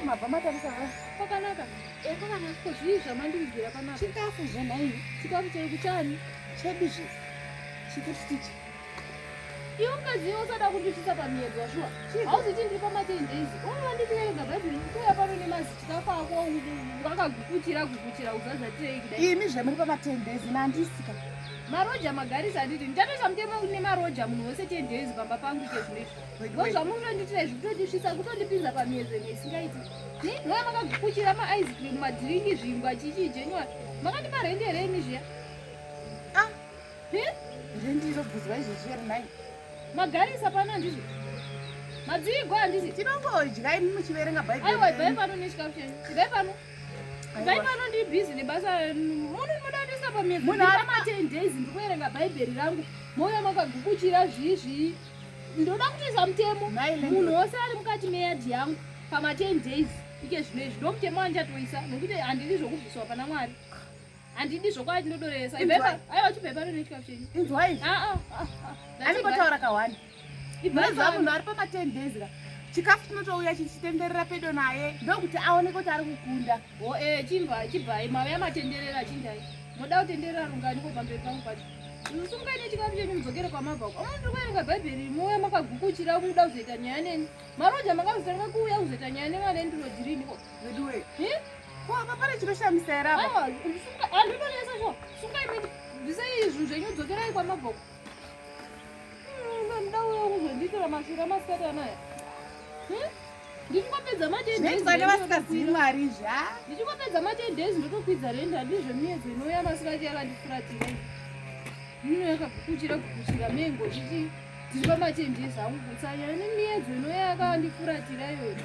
mabva matarisa ha kwakanaka eh, kwakanaka ko zvii zvamandivigira panapa chikafu zvenhaii chikafu chekuchani chedu zve chikutitichi Iwe mukadzi iwe usada kundisvitsa pamiedzo washuwa. Hauziti ndiri pamaten days. Unova ndichiverenga bhaibheri kuya pano nemazita kwako wakagukuchira gukuchira uzazatirei kudai. Imi zvamuri pamaten days nandisika. Maroja magarisa anditi ndichatosha mutemo nemaroja munhu wese ten days pamba pangu ite zvinezvi. Ngo zvamunoitira izvi kutondisvitsa kutondipinza pamiedzo imwe isingaiti. Ni ndoya makagukuchira ma ice cream madhiringi zvingwa chichi jenywa. Makandipara hende here imi zviya? ndizobvunzwa izvezvi iri nai magarisa pano handizvo madziigwa handizvo tinongodya imi muchiverenga bhaibheriaiwa ibvai pano nechikakucheni ibvai pano ibvai pano ndiri bhizi nebasa muno ndimoda kutoisa pamezamaten days ndikuverenga bhaibheri rangu mouya makagukuchira zvii zvii ndoda kutoisa mutemo munhu wose ari mukati meyadhi yangu pamaten days ike zvino izvi ndomutemo wandichatouisa nokuti handidi zvokubviswa pana mwari handidi zvokwadi ndodoreresa aiwa chibvepa rinechikafu chenyu inzwai anengotaura kahwani ibvaiva munhu ari pama ten days ka chikafu chinotouya chichitenderera pedo naye ndokuti aoneke kuti ari kukunda o e chimva chibvai mave yamatenderera chindai moda kutenderera rungani kubva mberi pangu pacho musungaine chikafu chenyu mudzokere kwamabva uko amwe ndiri kuerenga bhaibheri muuya makagukuchira muda kuzoita nyaya neni maroja makazotanga kuuya kuzoita nyaya nemwana endirodhiriniko Veduwe. Eh? Ko apa pane chinoshamisa here apa? Awa, sunga, andri pane yesa zvo. Sunga imene. Ndise izvi zvenyu dzokerai kwa maboko. Hmm, ndau yangu zvenditira mashura masikati anaya. Hmm? ndichingopedza matendezvane vasingazivi mwari zva ndichingopedza matendezi ndotokwidza renda ndizvo miyedzo inouya masikati yakandifuratire mino yakagukuchira gukuchira mengo chichi dziri pamatendezi angu kutsanya nemiyedzo inouya yakandifuratira iyoyo